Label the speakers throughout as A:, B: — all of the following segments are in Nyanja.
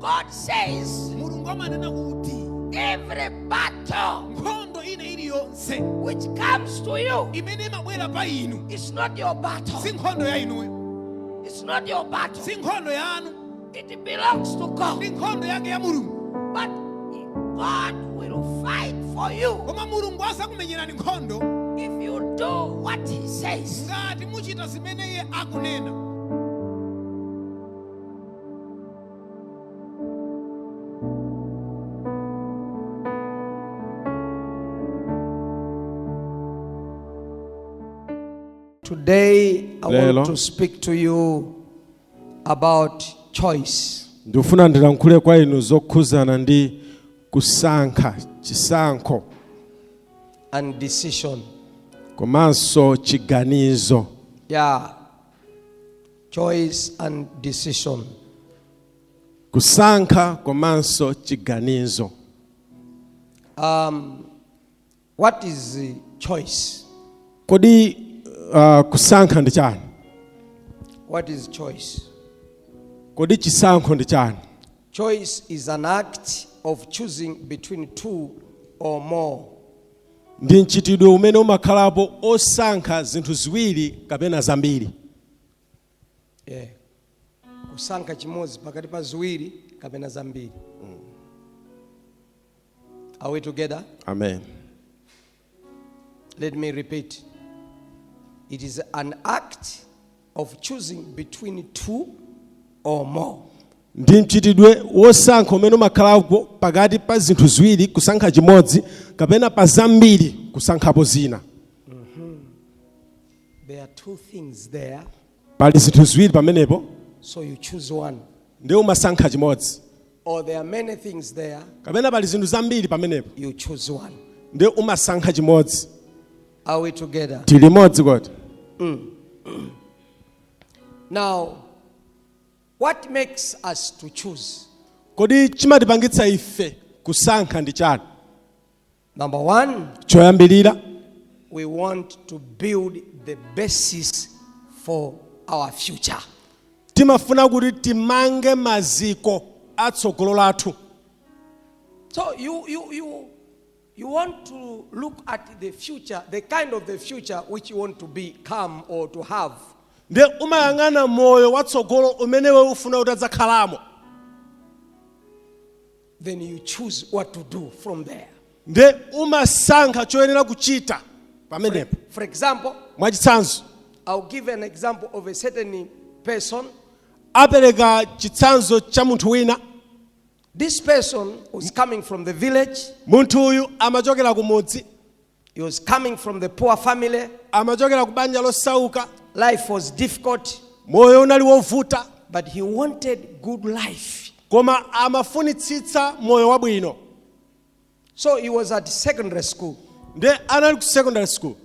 A: God says mulungu amanena kuti every battle nkhondo ina iliyonse which comes to you imene imabwera pa inu it's not your battle si nkhondo ya inuyo it's not your battle si nkhondo yanu It belongs to God. ndi nkhondo yake ya mulungu But God will fight for you koma mulungu azakumenyerani nkhondo if you do what He says. ngati muchita zimene iye akunena Today, I Lelo. want to speak to you about choice. ndifuna ndilankhule
B: kwa inu zokhuzana ndi kusankha chisankho
A: and decision komanso
B: chiganizo yeah
A: choice and decision kusankha
B: komanso chiganizo um,
A: What is uh, choice? kodi
B: uh, kusankha ndi chani
A: What is choice? kodi
B: chisankho ndi chani Choice is
A: an act of choosing between two or more. ndi
B: mchitidwe umene umakhalapo osankha zinthu ziwiri kapena zambiri
A: Yeah. Kusankha chimodzi pakati pa ziwiri kapena zambiri. Are we together? Amen. Let me repeat. It is an act of choosing between two or more. ndi mchitidwe
B: wosankha umene umakhalapo pakati pa zinthu ziwiri kusankha chimodzi kapena pa zambiri kusankhapo zina
A: There are two things there. pali
B: zinthu ziwiri pamenepo So you
A: choose one. nde
B: umasankha chimodzi Or there are
A: many things there, kapena pali zinthu
B: zambiri pamenepo you choose one.
A: nde umasankha
B: chimodzi Are we
A: together? tili limodzi kodi Now, what makes us to choose? kodi
B: chimatipangitsa ife kusankha ndi chani
A: Number one,
B: choyambirira
A: we want to build the basis for our future. timafuna
B: kuti timange maziko a tsogolo lathu
A: So you, you, you, you want to look at the future, the kind of the future which you want to become or to have. nde
B: umayang'ana moyo watsogolo umene iwe ufuna utadzakhalamo
A: then you choose what to do from there. nde
B: umasankha choyenera kuchita pamenepo For example,
A: mwachitsanzo
B: I'll give an
A: example of a certain person. apereka
B: chitsanzo cha munthu wina This
A: person was coming from the village. munthu uyu
B: amachokera kumudzi He was coming
A: from the poor family. amachokera ku banja
B: losauka Life was
A: difficult, moyo unali
B: wovuta but he wanted
A: good life. koma
B: amafunitsitsa moyo wabwino
A: So he was at secondary school. nde anali ku
B: secondary school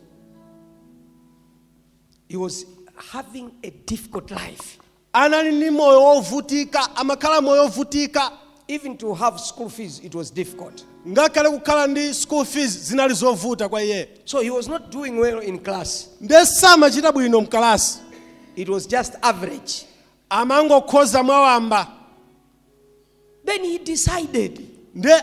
A: He was having a difficult life. anali ndi moyo
B: wovutika, amakhala moyo wovutika. Even to have
A: school fees, it was difficult. ngakhale kukhala
B: ndi school fees zinali zovuta kwa iye So he was not doing
A: well in class. nde samachita
B: bwino mkalasi It was just
A: average. amangokhoza
B: mwawamba
A: Then he decided. nde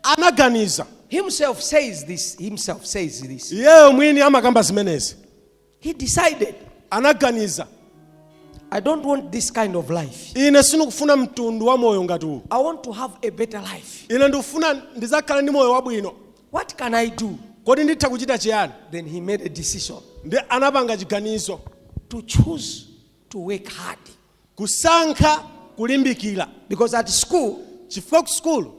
B: anaganiza Himself
A: says this. Himself says this.
B: iyeyo mwini amakamba zimenezi He
A: decided, anaganiza I don't want this kind of life. ine
B: sindikufuna mtundu wa moyo ngati uwu I want to have a better
A: life. ine ndikufuna
B: ndizakhale ndi moyo wabwino What can I do?
A: kodi nditha
B: kuchita chiyani Then he made
A: a decision nde
B: anapanga chiganizo to
A: choose to work hard. kusankha
B: kulimbikira Because at school,
A: chifukwa ku sukulu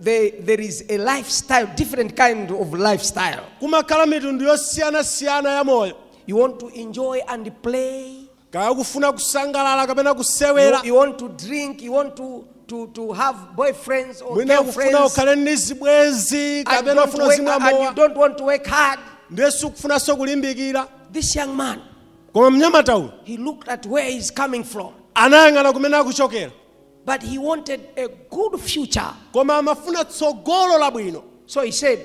A: there, there is a lifestyle, different kind of lifestyle. kumakhala
B: mitundu yosiyanasiyana ya moyo You want to enjoy
A: and play. kaya kufuna
B: kusangalala kapena You, kusewera you want to drink.
A: You want to, to, to have boyfriends or mwina kufuna girlfriends.
B: ukhale ndi zibwenzi And, kapena don't ufuna work, uzimwa and you mowa don't want to
A: work hard. ndiye sukufunanso
B: kulimbikira This young man,
A: koma mnyamata
B: uyu he looked at where he's
A: coming from. anayang'ana kumene
B: akuchokera But
A: he wanted a good future. koma
B: amafuna tsogolo labwino So he
A: said,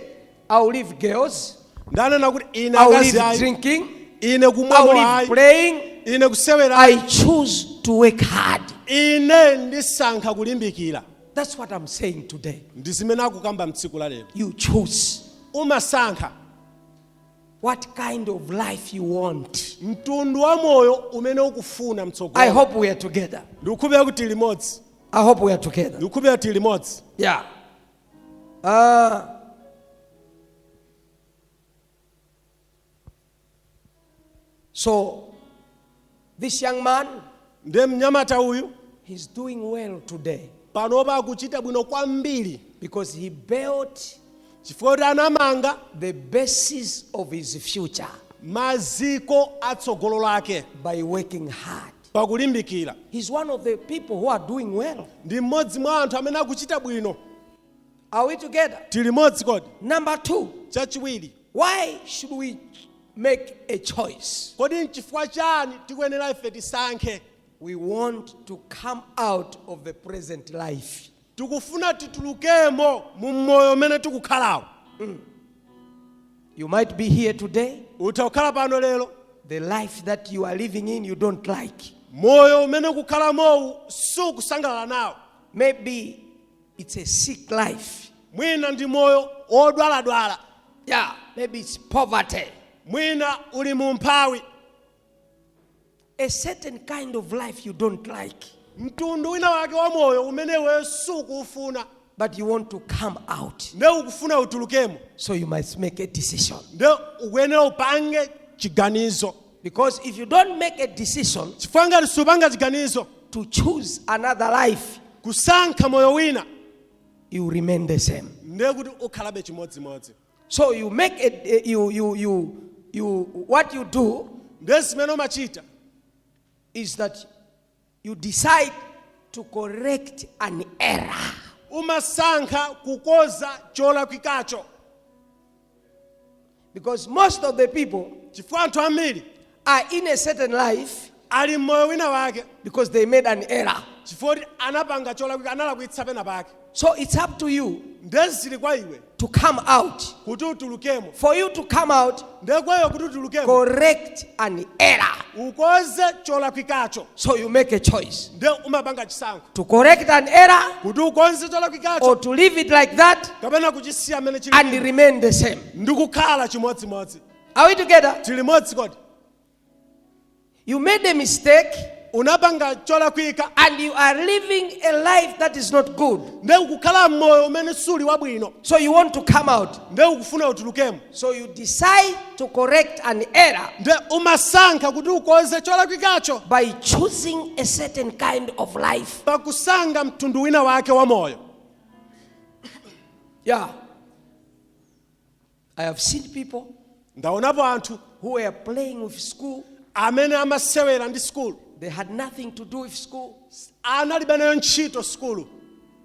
A: I'll leave girls, nde ananena kuti
B: ine I'll akazi leave ayi drinking,
A: ine I'll kumwa mowa leave ayi
B: playing.
A: ine kusewera ayi. I
B: choose
A: to work hard.
B: ine ndisankha kulimbikira That's what I'm
A: saying today. ndi zimene akukamba
B: mtsiku la lero You choose.
A: umasankha what kind of life you want. mtundu wa moyo
B: umene ukufuna I mtsogolo hope we are together.
A: ndikukhulupirira kuti limodzi
B: I hope we are together.
A: ndikukhulupirira kuti limodzi Yeah. Uh, so This young man, nde
B: mnyamata uyu he's doing
A: well today panopa
B: akuchita bwino kwambiri because he
A: built chifukwa kuti
B: anamanga the basis
A: of his future
B: maziko atsogolo lake by
A: working hard.
B: pakulimbikira He's one of
A: the people who are doing well. ndi mmodzi mwa anthu
B: amene akuchita bwino Are we
A: together? tili limodzi kodi
B: Number two,
A: chachiwiri
B: Why should
A: we make a choice? Kodi nchifukwa
B: chani tikuyenera ife tisankhe? We want
A: to come out of the present life. Tikufuna
B: titulukemo mu moyo umene tikukhalawo. Mm.
A: You might be here today. Utha kukhala pano lero.
B: The life that
A: you are living in you don't like. Moyo umene
B: ukukhalamowu sukusangalala nawo. Maybe
A: It's a sick life. mwina ndi
B: moyo wodwaladwala
A: Yeah, maybe it's poverty. mwina
B: uli mu umphawi
A: A certain kind of life you don't like, mtundu
B: wina wake wa moyo umene iwe sukuufuna but you want
A: to come out. nde ukufuna
B: utulukemo So you must make
A: a decision. nde ukuyenera
B: upange chiganizo Because if you
A: don't make a decision chifukwa ngati supanga
B: chiganizo to choose
A: another life, kusankha moyo
B: wina you
A: remain the same. ndiye kuti ukhalabe
B: chimodzimodzi So you make
A: a, a- you, you, you, you, what you do ndiye zimene
B: umachita is
A: that You decide to correct an error.
B: umasankha kukonza cholakwikacho
A: Because most of the people chifukwa anthu
B: ambiri are in
A: a certain life ali mmoyo
B: wina wake because they made an
A: error. chifukwa kuti anapanga
B: cholakwika analakwitsa pena pake So it's up to
A: you nde zili kwa
B: iwe to come
A: out. kuti
B: utulukemo For you to
A: come out, nde kwa iwe kuti utulukemo
B: correct an
A: error. ukonze
B: cholakwikacho So you make a
A: choice nde umapanga
B: chisankho to correct
A: an error kuti ukonze
B: cholakwikacho or to leave it
A: like that kapena kuchisiya mmene
B: chilili and remain the
A: same. ndikukhala
B: chimodzimodzi Are we together?
A: tili limodzi kodi You made a mistake
B: unapanga cholakwika and you
A: are living a life that is not good. nde ukukhala
B: mmoyo umene suli wabwino So you want to come
A: out. nde ukufuna utulukemo
B: So you decide
A: to correct an error nde
B: umasankha kuti ukonze cholakwikacho by
A: choosing a certain kind of life. pakusankha mtundu
B: wina wake wa moyo
A: Yeah. I have seen people ndaonapo
B: anthu who were
A: playing with school. amene
B: amasewera ndi sukulu They had nothing
A: to do with school. analibe nayo
B: ntchito sukulu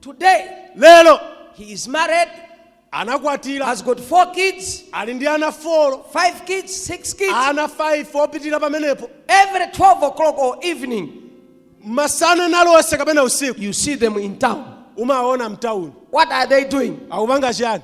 B: Today,
A: lero
B: he is married,
A: anakwatira
B: has got
A: four kids, ali ndi ana
B: folo five kids,
A: six kids. ana 5 kupitira
B: pamenepo Every
A: 12 o'clock or evening, masana
B: nalonse kapena usiku you see them in town.
A: umawaona mtawuni
B: What are they doing?
A: akupanga chiyani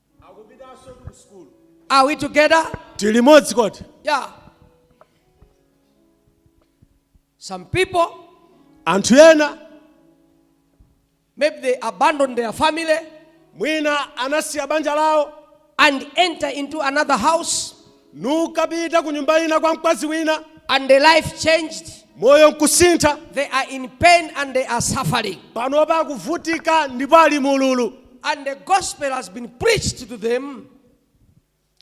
B: Are we together?
A: tili modzi kodi
B: Yeah.
A: Some people, anthu
B: ena
A: maybe they abandon their family mwina
B: anasiya banja lawo and enter
A: into another house
B: nkukapita ku nyumba ina kwa mkazi wina. and their
A: life changed. moyo
B: nkusintha. they are in pain
A: and they are suffering. panopa akuvutika
B: ndipo ali mululu. and the gospel
A: has been preached to them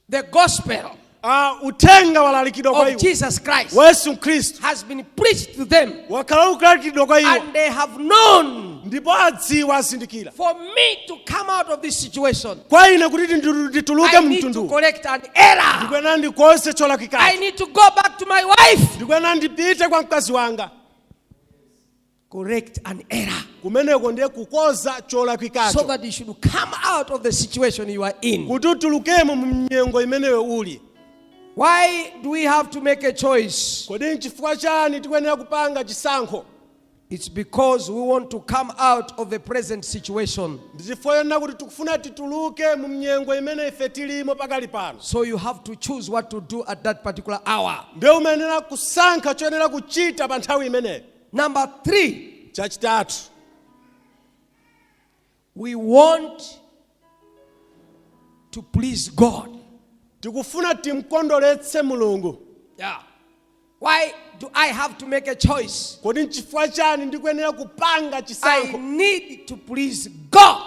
A: the gospel Uh,
B: uthenga walalikidwa kwa iwo of jesus christ
A: wa
B: yesu
A: khristu has
B: been preached
A: to them wakhala ukulalikidwa
B: kwa iwo and they have known
A: ndipo
B: adziwa azindikira for me
A: to come out of this situation kwa ine kuti
B: nditu- ndituluke i need to mtundu
A: correct an error ndikuyenera ndikonze i
B: cholakwika
A: need
B: to
A: go back
B: to my
A: wife
B: ndikuyenera
A: ndipite kwa
B: mkazi
A: wanga correct an error kumeneko
B: ndiye kukonza so cholakwikacho that you should
A: come out of the situation you are in kuti
B: utulukemo mu mnyengo imeneyo uli why
A: do we have to make a choice kodi nchifukwa
B: chani tikuyenera kupanga chisankho It's
A: because we want to come out of the present situation. ndi chifukwa chonena kuti
B: tikufuna tituluke mu mnyengo imene ife tilimo pakali pano So you have to choose
A: what to do at that particular hour. ndiye umayenera
B: kusankha choyenera kuchita pa nthawi imeneyo Number
A: three, chachitatu We want to please God.
B: tikufuna timkondweretse mulungu Yeah.
A: Why do I have to make a choice? kodi nchifukwa chani
B: ndikuyenera kupanga I chisankho need
A: to please God.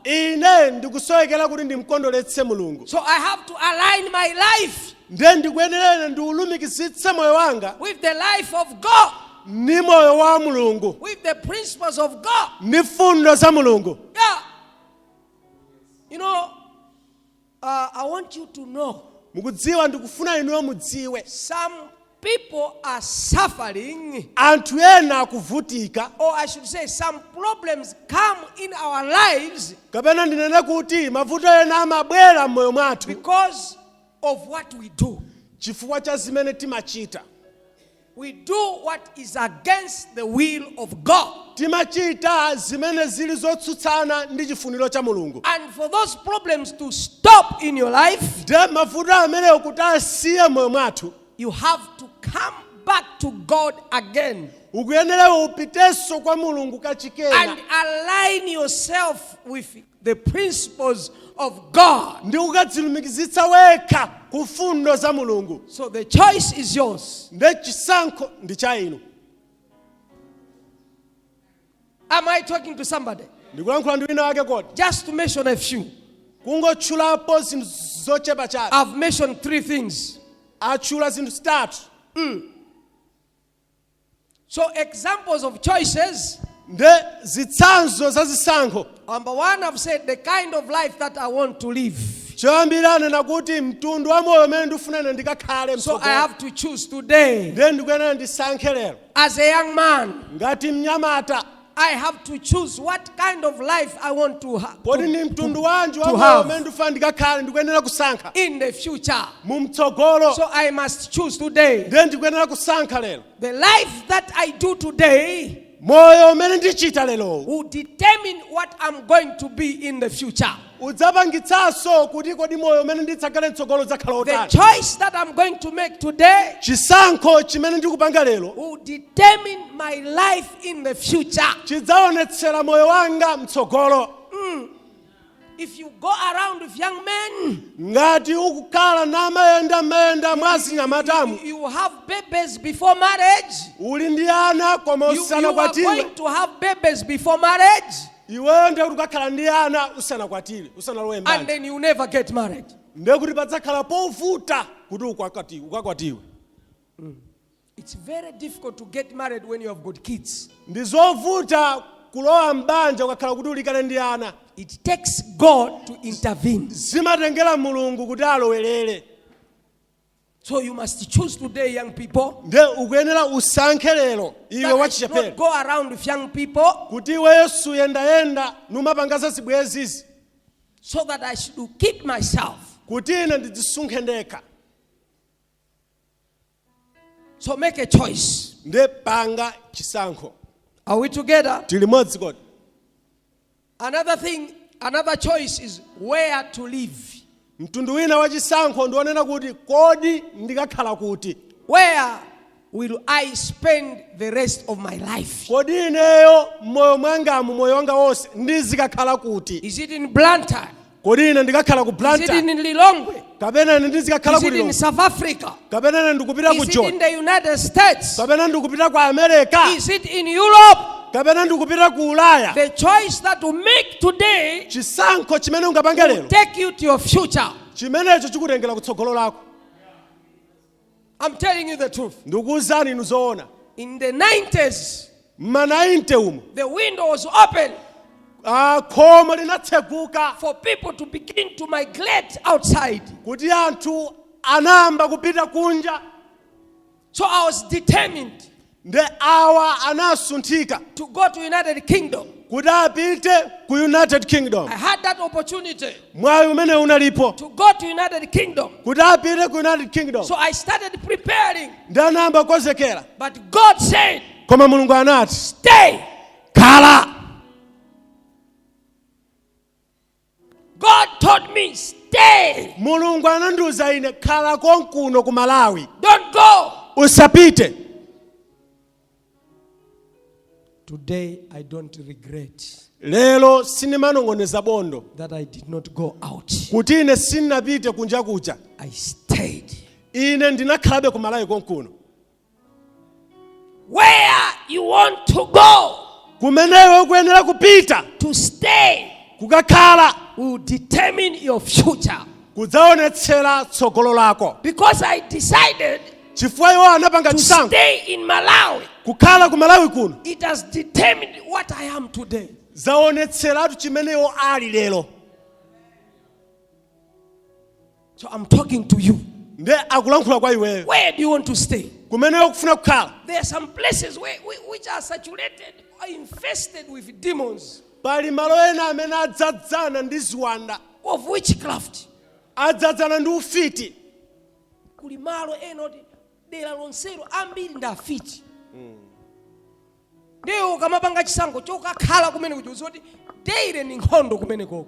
B: ine ndikusowekera kuti ndimkondweretse mulungu So I have to
A: align my life ndiye ndikuyenera
B: ine ndiulumikizitse moyo wanga with the life of
A: God. ndi moyo wa
B: mulungu with the principles
A: of God. ndi mfundo za
B: mulungu Yeah.
A: You know, uh, I want you to know mukudziwa ndikufuna
B: inuyo mudziwe some
A: people are suffering, anthu ena
B: akuvutika or I should say,
A: some problems come in our lives kapena ndinene
B: kuti mavuto ena amabwera m'moyo mwathu because
A: of what we do. chifukwa cha zimene
B: timachita
A: We do what is against the will of God.
B: Timachita zimene zili zotsutsana ndi chifuniro cha Mulungu. And for those problems
A: to stop in your life, ndiye mavuto
B: amenewo kuti asiye m'moyo mwathu, you have
A: to come back to God again. ukuyenera
B: upitenso kwa Mulungu kachikena. And align
A: yourself with the principles of God. ndi kukadzilumikizitsa
B: wekha ku mfundo za mulungu So the choice
A: is yours. nde chisankho
B: ndi cha inu
A: Am I talking to somebody? ndikulankhula ndi wina wake
B: kodi Just to mention a few.
A: kungotchulapo
B: zinthu zochepa chabe I've mentioned three
A: things. atchula zinthu
B: zitatu
A: So examples of choices. nde
B: zitsanzo za zisankho Number one, I've
A: said the kind of life that I want to live. choyambira anena
B: kuti mtundu wa moyo umene ndifuna ine ndikakhale So I mtsogolo. have to
A: choose
B: today.
A: nde ndikuyenera ndisankhe
B: lero As a young man,
A: ngati mnyamata
B: I have to
A: choose what kind of life I want to, ha- kodi to, ndi mtundu wanji
B: wa to moyo have. umene ndifuna ndikakhale ndikuyenera kusankha in the future.
A: mu mtsogolo
B: So I must choose
A: today. ndiye ndikuyenera kusankha
B: lero The life that
A: I do today moyo umene
B: ndichita lerowu will determine
A: what I'm going to be in the future.
B: udzapangitsanso kuti kodi moyo umene ndidzakhale mtsogolo udzakhala The otani choice that
A: I'm
B: going
A: to make today chisankho
B: chimene ndikupanga lero will determine
A: my life in the future. chidzaonetsera
B: moyo wanga mtsogolo
A: If you go around with young men,
B: ngati ukukhala namayenda mayenda mwa zinyamatamu you have
A: babies before marriage. uli ndi ana
B: koma You, you are usanakwatiwe
A: going to
B: have babies
A: before marriage. iweyo ndiye
B: kuti ukakhala ndi ana usanakwatiwe usanalowe and mbanja then you
A: never
B: get
A: married. ndiye kuti padzakhala
B: povuta kuti ukwakati- ukakwatiwe
A: It's very difficult to get married when you have got kids. ndi
B: zovuta kulowa mbanja ukakhala kuti uli kale ndi ana It takes
A: God to intervene. zimatengera
B: mulungu kuti alowerere
A: So you must choose today, young people, nde
B: ukuyenera usankhe lero iwe that I should wachichepere not
A: go
B: around with young
A: people kuti iweyo
B: suyendayenda numapanga za zibwenzizi so that
A: I should keep myself. kuti
B: ine ndidzisunge
A: ndekha So make a choice. nde panga
B: chisankho Are we
A: together? tili limodzi kodi
B: Another thing,
A: another choice is where to live. Mtundu wina wa
B: chisankho ndi wonena kuti kodi ndikakhala kuti? Where
A: will I spend the rest of my life? Kodi ineyo
B: moyo mwangamu moyo wanga wonse ndizikakhala kuti? Is it in Blantyre?
A: kodi ine ndikakhala
B: ku Is it blantyre in
A: Lilongwe?
B: kapena
A: ine ndizikakhala
B: Is ku it in lilongwe South Africa?
A: kapena ine ndikupita ku Is
B: it in joni the United States?
A: kapena ndikupita ku
B: america Is it in
A: Europe? kapena ndikupita
B: ku ulaya The choice that
A: you make today chisankho chimene
B: ungapange lero take you to your
A: future. chimenecho chikutengera
B: kutsogolo lako
A: I'm telling you the truth. ndikuwuzani inu
B: zoona
A: In the 90s, mma
B: 90 umo the window was
A: open
B: khomo linatseguka for people
A: to begin to migrate outside. kuti
B: anthu anayamba
A: kupita
B: kunja
A: So
B: I was
A: determined
B: nde awa anasunthika to go to
A: United Kingdom. kuti
B: apite ku united kingdom I had that opportunity
A: mwayi umene
B: unalipo to go to United
A: Kingdom. kuti apite ku
B: united kingdom So I
A: started preparing. nde
B: anayamba kukonzekera But
A: God said, koma mulungu anati
B: stay.
A: khala God told me, stay. mulungu
B: anandiuza ine khala konkuno ku malawi Don't go.
A: usapite Today, I don't regret
B: lero sinimanong'oneza bondo that I did not
A: go out. kuti ine
B: sinnapite kunja kuja I stayed.
A: ine
B: ndinakhalabe ku malawi konkuno
A: where you want to go kumene iwe
B: ukuyenera kupita to stay
A: kukakhala
B: will determine
A: your future. kudzaonetsera
B: tsogolo lako Because I
A: decided chifukwa iwo
B: anapanga to chisankho stay
A: in
B: Malawi,
A: kukhala ku malawi
B: kuno it has determined
A: what I am today. zaonetseratu
B: chimene iwo ali lero
A: So I'm talking to you. nde
B: akulankhula kwa iweyo Where do you want to
A: stay? kumene iwe ukufuna
B: kukhala There are some
A: places where, whi- which are saturated or infested with demons pali malo ena
B: amene adzadzana ndi ziwanda of witchcraft. adzadzana ndi ufiti
A: Kuli malo ena oti dera lonselo ambiri ndi afiti. Ndiye ukamapanga chisankho chokakhala kumene kuja uziwa kuti daily ndi nkhondo kumene koko.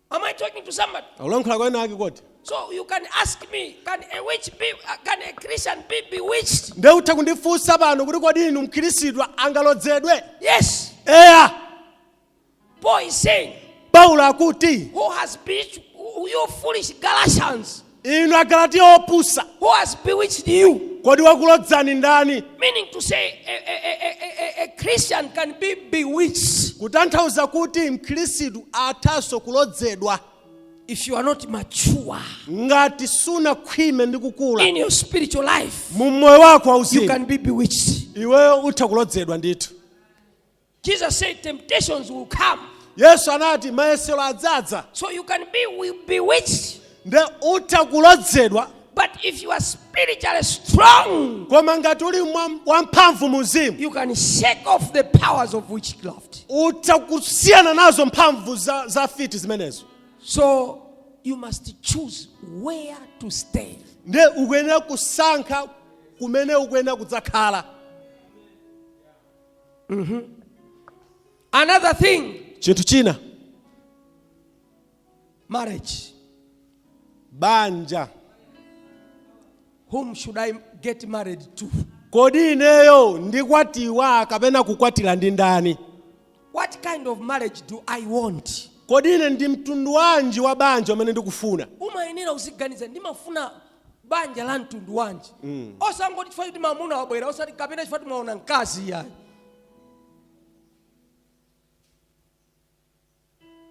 A: Am I talking to somebody? akulankhula kwa ena ake kodi
B: So you can ask
A: me, can a witch be, uh, can a Christian be bewitched? ndiye utha kundifunsa
B: pano kuti kodi inu mkhristu angalodzedwe Yes.
A: eya Paul is saying, paulo akuti
B: who has bewitched
A: you foolish Galatians? inu agalatiya
B: opusa Who has bewitched
A: you? kodi wakulodzani
B: ndani Meaning to say, a,
A: a, a, a, a, a Christian can be bewitched kutanthauza kuti
B: mkhristu athanso kulodzedwa if you are
A: not mature ngati
B: sunakhwime ndi kukula in your spiritual
A: life. mu moyo wako You
B: wauzimu can be bewitched.
A: iweyo utha
B: kulodzedwa ndithu Jesus
A: said temptations will come. yesu anati
B: mayesero adzadza So you can be
A: we- bewitched. nde utha
B: kulodzedwa But if you
A: are spiritually strong, koma ngati uli
B: mwa- wamphamvu mu mzimu you can shake off
A: the powers of witchcraft. utha kusiyana
B: nazo mphamvu za, za fiti zimenezo So
A: you must choose where to stay. nde ukuyenera
B: kusankha kumene ukuyenera kudzakhala
A: Another thing, chinthu china marriage.
B: banja Whom
A: should I get married to? kodi ineyo
B: ndikwatiwa kapena kukwatira ndi ndani What kind
A: of marriage do I want? kodi ine ndi
B: mtundu wanji wa banja umene ndikufuna umayenera uziganiza
A: ndimafuna banja la mtundu wanji mm. osangoti chifukwa choti mamuna wabwera osati kapena chifukwa choti mwaona mkazi iyayi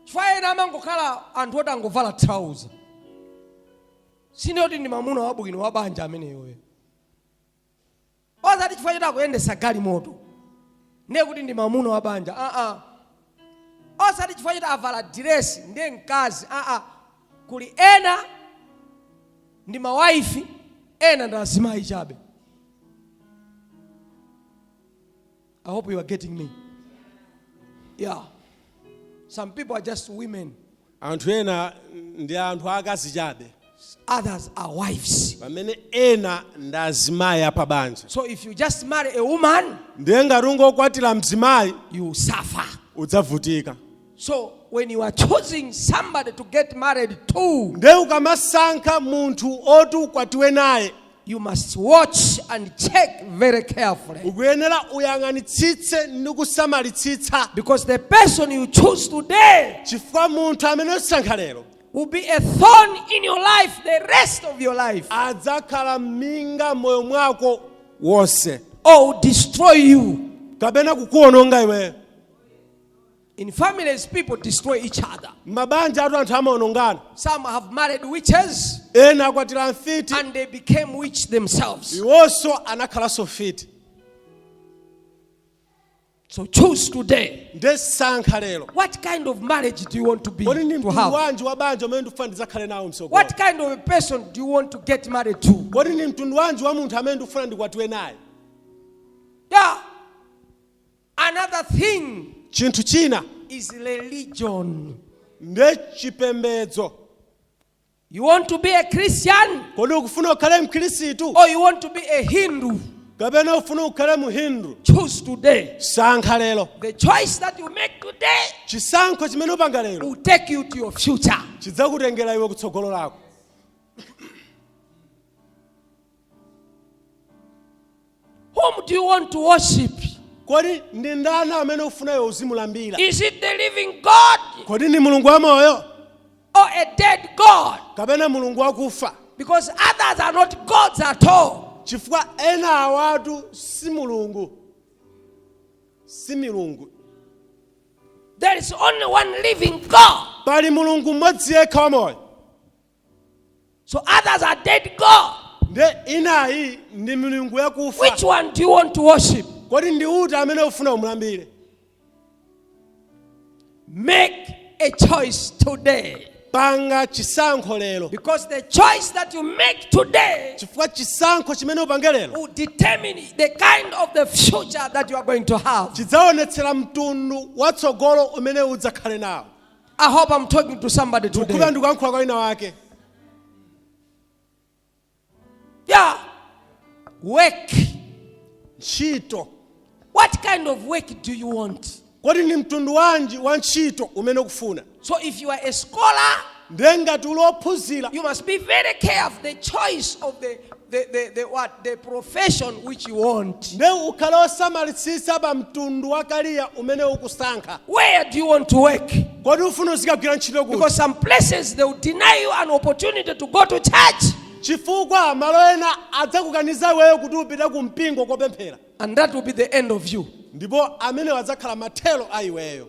A: chifukwa ena amangokhala anthu oti angovala trouser sinoti ndi mamuna wabwino wa banja ameneyoyo osati chifukwa choti akuyendesa galimoto ndiye kuti ndi mamuna wa banja aa osati chifukwa choti avala diresi ndiye mkazi aa kuli ena ndi mawaifi ena ndi azimayi chabe I hope you are getting me. Yeah. Some people are just women, anthu ena
B: ndi anthu akazi chabe others
A: are wives. pamene ena
B: ndi azimayi apabanja So if you just
A: marry a woman, ndiye ngati
B: ungokwatira mzimayi you suffer.
A: udzavutika
B: So
A: when you are choosing somebody to get married to, nde ukamasankha
B: munthu oti ukwatiwe naye you must
A: watch and check very carefully. ukuyenera
B: uyang'anitsitse ndi kusamalitsitsa Because the person
A: you choose today chifukwa munthu
B: amene usankha lero will be a
A: thorn in your life the rest of your life adzakhala
B: minga moyo mwako wonse
A: or will
B: destroy
A: you.
B: kapena kukuononga
A: iweyo In families, people destroy each other. m'mabanjatu
B: anthu amaonongana Some have
A: married witches ena
B: akwatira mfiti and they became witch
A: themselves. iwonso
B: anakhalanso mfiti
A: So choose today. nde sankha
B: lero What kind of
A: marriage do you want to be kodi ndi to mtundu have? wanji
B: wa
A: banja umene
B: ndikufuna ndidzakhale nawo msogolo What kind of a person
A: do you want to get married to? kodi ndi mtundu wanji wa
B: munthu amene ndikufuna ndikwatiwe naye
A: Yeah. Another thing Chinthu
B: china is
A: religion.
B: ndi
A: chipembedzo. You want to be a Christian Kodi ukufuna ukhale
B: Mkhristu or you want to be
A: a Hindu? kapena
B: ufuna ukhale Mhindu? Choose
A: today. Sankha
B: lero. The choice that
A: you make today Chisankho
B: chimene upanga lero will take you to your
A: future. chidzakutengera iwe
B: kutsogolo lako.
A: Whom do you want to worship? kodi ndi
B: ndani amene ufuna iwe uzimulambira Is it the living
A: God kodi ndi mulungu
B: wamoyo or a
A: dead God? kapena mulungu wakufa
B: Because others
A: are not gods at all. chifukwa ena
B: awatu si mulungu si milungu
A: There is only one living God. pali mulungu
B: mmodzi yekha wamoyo
A: So others are dead God. nde inayi
B: ndi milungu yakufa Which one do you want to
A: worship? kodi ndi uti amene
B: ufuna umulambire
A: Make a choice today. panga
B: chisankho lero Because the choice
A: that you make today chifukwa chisankho
B: chimene upange lero will determine
A: the kind of the future that you are going to have. chidzaonetsera mtundu
B: watsogolo umene udzakhale nawo I hope
A: I'm talking to somebody today. ndikukhulupirira ndikuyankhula kwa
B: wina
A: wake Yeah. Work.
B: ntchito What
A: kind of work do you want? kodi ndi
B: mtundu wanji wa ntchito umene ukufuna So if you are a
A: scholar, ndiye ngati uli
B: ophunzira you must be very
A: careful of the choice of the the, the, the what? The profession which you want. nde
B: ukhale osamalitsitsa pa mtundu wa kariya umene ukusankha Where do you want to
A: work? kodi ufuna uzikagwira
B: ntchito kuti Because some places they
A: will deny you an opportunity to go to church. chifukwa
B: malo ena adzakukaniza iweyo kuti upite ku mpingo kopemphera And that will be the
A: end of you. ndipo amenewo
B: adzakhala mathero a iweyo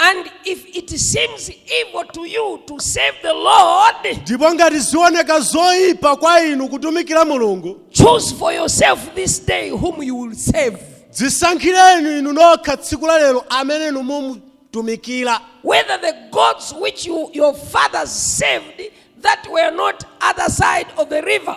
A: And if it seems evil to you to serve the Lord, ndipo
B: ngati zioneka zoyipa kwa inu kutumikira mulungu choose for yourself
A: this day whom you will serve.
B: dzisankhireni inu nokha tsiku la lero amene inu mumutumikira Whether
A: the gods which you, your fathers served that were on the other side of the river,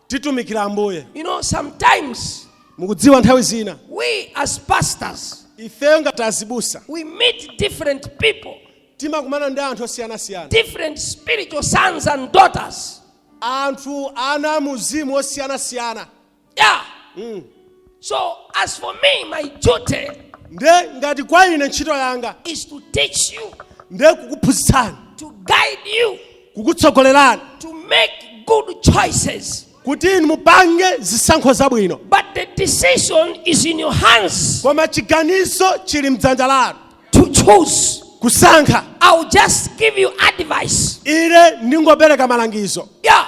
A: titumikira
B: ambuye You know, sometimes
A: mukudziwa nthawi
B: zina we as
A: pastors, ifeyo ngati
B: azibusa we meet
A: different people, timakumana ndi
B: anthu osiyanasiyana different spiritual
A: sons and daughters. anthu
B: ana amuzimu osiyanasiyana Yeah.
A: Mm. So as for me, my duty nde ngati
B: kwa ine ntchito yanga is to teach
A: you, nde kukuphunzitsani
B: to guide
A: you, kukutsogolerani
B: to make
A: good choices. kuti inu mupange
B: zisankho zabwino But the decision
A: is in your hands koma chiganizo
B: chili mdzanja lanu to choose.
A: kusankha
B: I'll just
A: give you advice. ine ndingopereka
B: malangizo Yeah.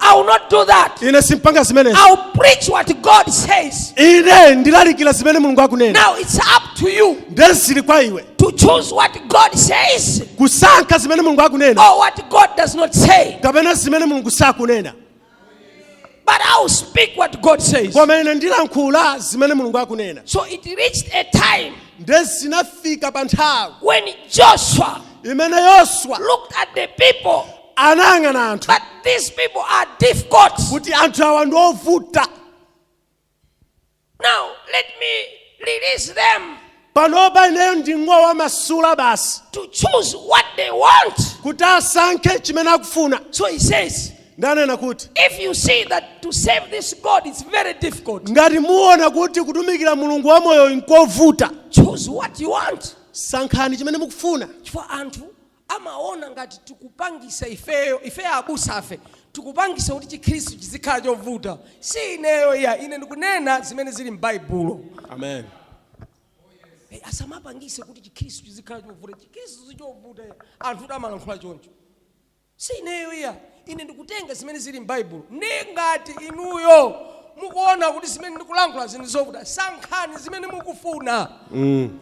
B: I will not do that.
A: ine simpanga zimenezo
B: I'll preach what
A: God says. ine ndilalikira
B: zimene mulungu akunena Now it's up to
A: you nde zili kwa iwe
B: to choose what
A: God says kusankha zimene
B: mulungu akunena or
A: what God
B: does not
A: say.
B: kapena
A: zimene
B: mulungu sakunena
A: But I'll speak what God says. koma ine ndilankhula
B: zimene mulungu akunena So it reached
A: a time nde zinafika
B: pa nthawi when Joshua
A: imene yoswa
B: looked at the
A: people anayang'ana
B: anthu that these
A: people are difficult. kuti anthu
B: awa ndi
A: ovuta Now, let me release them panopa ineyo
B: ndingowamasula basi to choose what
A: they want. kuti
B: asankhe chimene akufuna So he
A: says, nde ananena
B: kuti if you see
A: that to serve this God is very difficult, ngati muona
B: kuti kutumikira mulungu wamoyo nkovuta choose what you
A: want. sankhani chimene
B: mukufuna Chifukwa anthu
A: amaona ngati tikupangisa ifeyo ifeyo abusafe tikupangisa kuti chikhristu chizikhala chovuta si ineyo iya ine ndikunena zimene zili m'baibulo Amen.
B: Eh,
A: asamapangise kuti chikhristu chizikhala chovuta chikhristu sichovuta iya anthu amalankhula choncho si ineyo iya ine ndikutenga zimene zili m'baibulo ndi ngati inuyo mukuona kuti zimene ndikulankhula zinthu zovuta sankhani zimene mukufuna Mm.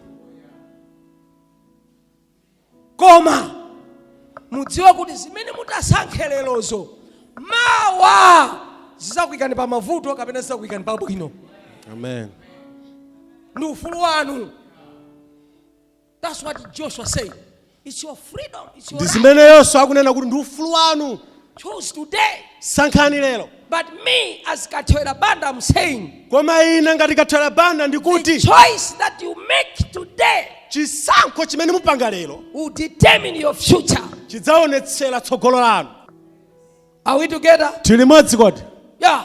A: koma mudziwe kuti zimene mutasankhe lerozo mawa zizakuyikani pa mavuto kapena zizakuyikani pa bwino Amen. ndi ufulu wanu that's what joshua said it's your freedom it's your right. ndi zimene yoswa akunena
B: kuti ndi ufulu wanu Choose
A: today. sankhani
B: lero But
A: me, as Kathewera Banda, I'm saying koma ine ngati
B: kathewera banda ndikuti the
A: choice that
B: you
A: make today chisankho
B: chimene mupanga lero will
A: determine your future.
B: chidzaonetsera tsogolo lanu Are
A: we together? tili limodzi kodi
B: Yeah.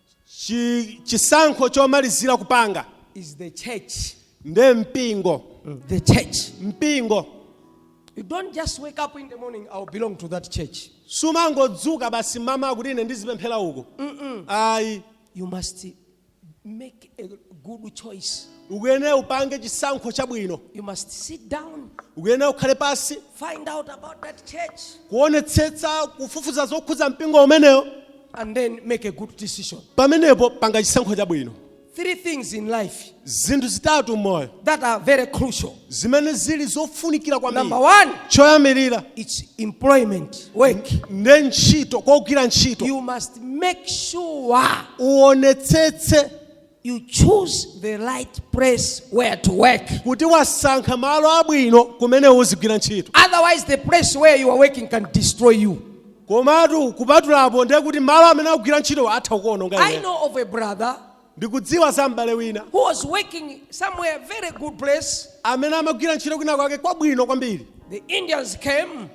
A: Chi,
B: chisankho chomalizira kupanga is the
A: church. nde
B: mpingo The
A: church. mpingo
B: You
A: don't just wake up in the morning, I'll belong to that church. sumangodzuka
B: basi m'mawa kuti ine ndizipemphera uko ayi You
A: must make a good choice. ukuyene
B: upange chisankho chabwino You must sit
A: down, ukuyene ukhale
B: pansi find out about
A: that church. kuonetsetsa
B: kufufuza zokhudza mpingo umenewo and
A: then make a good decision. pamenepo
B: panga chisankho chabwino Three things
A: in life zinthu zitatu
B: m'moyo that are very
A: crucial. zimene zili
B: zofunikira Number kwambiri
A: one, choyambirira
B: it's
A: employment, work. nde
B: ntchito kogwira ntchito You must make
A: sure uonetsetse you choose the right place where to work. kuti
B: wasankha malo abwino kumene uzigwira ntchito Otherwise, the place
A: where you are working can destroy you. komatu
B: kupatulapo ndiye kuti malo amene akugwira ntchito atha kukuononga I iwe know of a brother
A: ndikudziwa
B: za m'bale wina who was
A: working somewhere, very good place. amene amagwira
B: ntchito kwina kwake kwabwino kwambiri The Indians
A: came.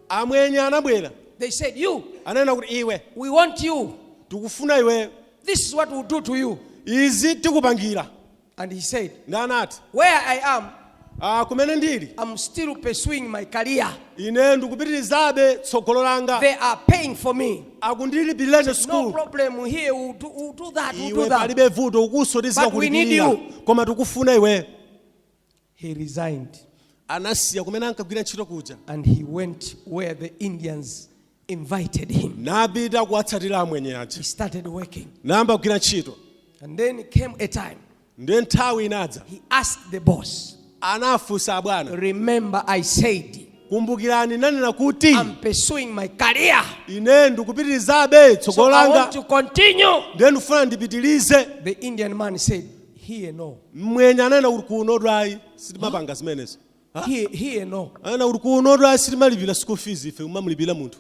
A: amwenye
B: anabwera They said, You,
A: ananena kuti iwe
B: we want you.
A: tikufuna iwe
B: This is what we'll
A: do to you. izi
B: tikupangira And he
A: said, ndiye anati
B: Where I am,
A: ah, kumene ndili
B: I'm still pursuing
A: my career. ine ndikupitirizabe
B: tsogolo langa They are paying
A: for me. akundilipirira ine
B: No sukulu
A: problem
B: here.
A: We'll do, we'll do that. We'll do iwe that. palibe vuto kunonso But we
B: need tizikakulipirira you.
A: koma tikufuna iwe he resigned
B: anasiya kumene ankagwira ntchito kuja and he
A: went where the Indians invited him. napita kuwatsatira
B: amwenye He aja started working.
A: nayamba kugwira ntchito
B: And then
A: came a time ndiye nthawi
B: inadza he asked the
A: boss,
B: anafunsa abwana Remember,
A: I said, kumbukirani ndinanena
B: kuti I'm pursuing my
A: career. ine
B: ndikupitirizabe So tsogolo I want langa
A: to
B: continue.
A: ndiye ndifuna
B: ndipitirize The Indian man
A: said, Here no. mmwenye ananena
B: kuti kunotu ayi sitimapanga zimenezo Here, here
A: no. ananena kuti kunotu ayi
B: sitimalipira school fees ife kumamulipira munthu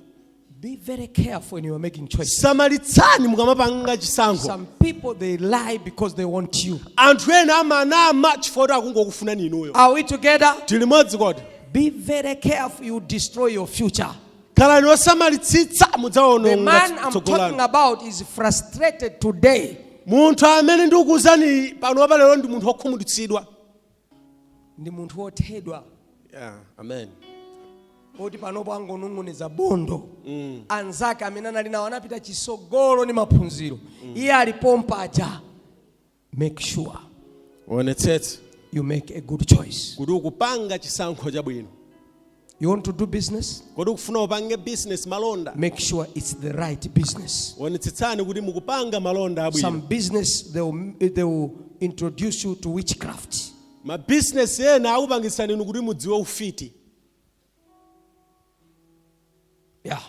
B: Be very
A: careful when you are making choices. samalitsani
B: mukamapanga chisankho Some people
A: they lie because they want you. anthu ena
B: amanama chifukwa choti akungokufunani inuyo Are we together?
A: tilimodzi kodi
B: Be very
A: careful you destroy your future.
B: khalani osamalitsitsa The
A: mudzaononga man
B: I'm tsogolo
A: talking lanu about
B: is
A: frustrated today. munthu amene
B: ndikukuuzani panopa lero ndi munthu wokhumudwitsidwa
A: Ndi munthu wothedwa
B: yeah, amen woti
A: panopo angonong'oneza bondo anzake amene anali nawo anapita chitsogolo ndi maphunziro iye ali pompaja make sure uonetsetse you make a good choice kuti
B: ukupanga chisankho chabwino you want to
A: do business kodi ukufuna upange
B: business malonda make sure it's the
A: right business onetsetsani kuti
B: mukupanga malonda abwino some
A: business they will, they will introduce you to witchcraft
B: mabizinesi ena akupangitsani inu kuti mudziwe ufiti
A: yeah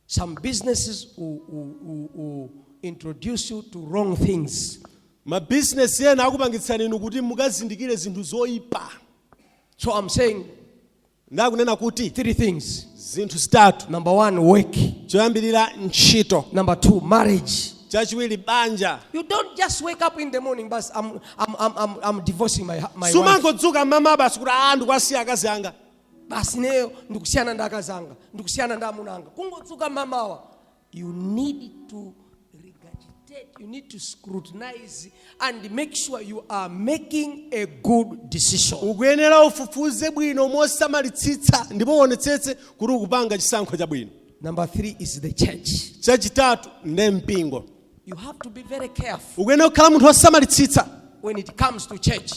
A: Some businesses will, will, will, will introduce you to wrong things.
B: mabizinesi ena akupangitsani inu kuti mukazindikire zinthu zoyipa So I'm
A: saying ndakunena
B: kuti three things.
A: zinthu
B: zitatu Number one,
A: work.
B: choyambirira ntchito Number two,
A: marriage. chachiwiri
B: banja You don't just
A: wake up in the morning, but I'm, I'm, I'm, I'm, I'm divorcing my, hu- my wife. sumangodzuka mamawa
B: basi kuti aa ndikuwasiya akazi anga basi ineyo
A: ndikusiyana ndi akazi anga ndikusiyana ndi amuna anga kungodzuka mamawa you need to regurgitate you need to scrutinize and make sure you are making a good decision ukuyenera
B: ufufuze bwino mosamalitsitsa ndipo uonetsetse kuti ukupanga chisankho chabwino number three
A: is the church
B: chachitatu nde mpingo you have to be
A: very careful ukuyenera kukhala munthu
B: wosamalitsitsa when it comes
A: to church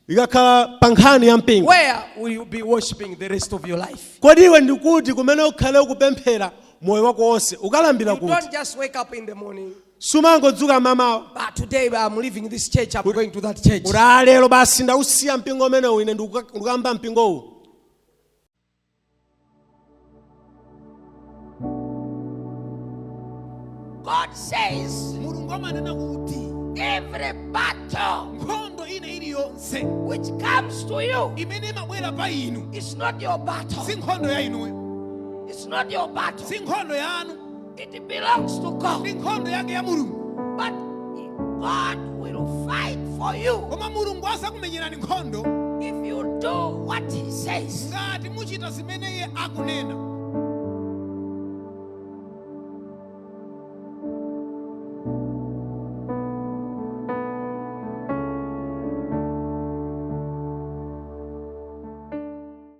B: ikakhala pa nkhani ya mpingo where will you
A: be worshiping the rest of your life? kodi iwe ndi
B: kuti kumene ukhale ukupemphera moyo wako wonse ukulambira kuti You don't just wake up
A: in the morning.
B: sumangodzuka mamawa But today
A: I'm leaving this church, I'm going to that church. kuti "Ah, lero basi
B: ndausiya mpingo umenewu ine ndikuka- ndikukamba mpingowu
A: God says mulungu amanena
C: kuti every
A: battle nkhondo ina
C: iliyonse which comes
A: to you imene imabwera pa
C: inu it's not your battle
A: si nkhondo ya inuyo
C: it's not
A: your battle si nkhondo yanu
C: It belongs
A: to God. ndi nkhondo yake ya mulungu
C: But
A: God will fight for you koma mulungu azakumenyerani
C: nkhondo
A: if you
C: do
A: what
C: He
A: says.
C: ngati
A: muchita
C: zimene iye akunena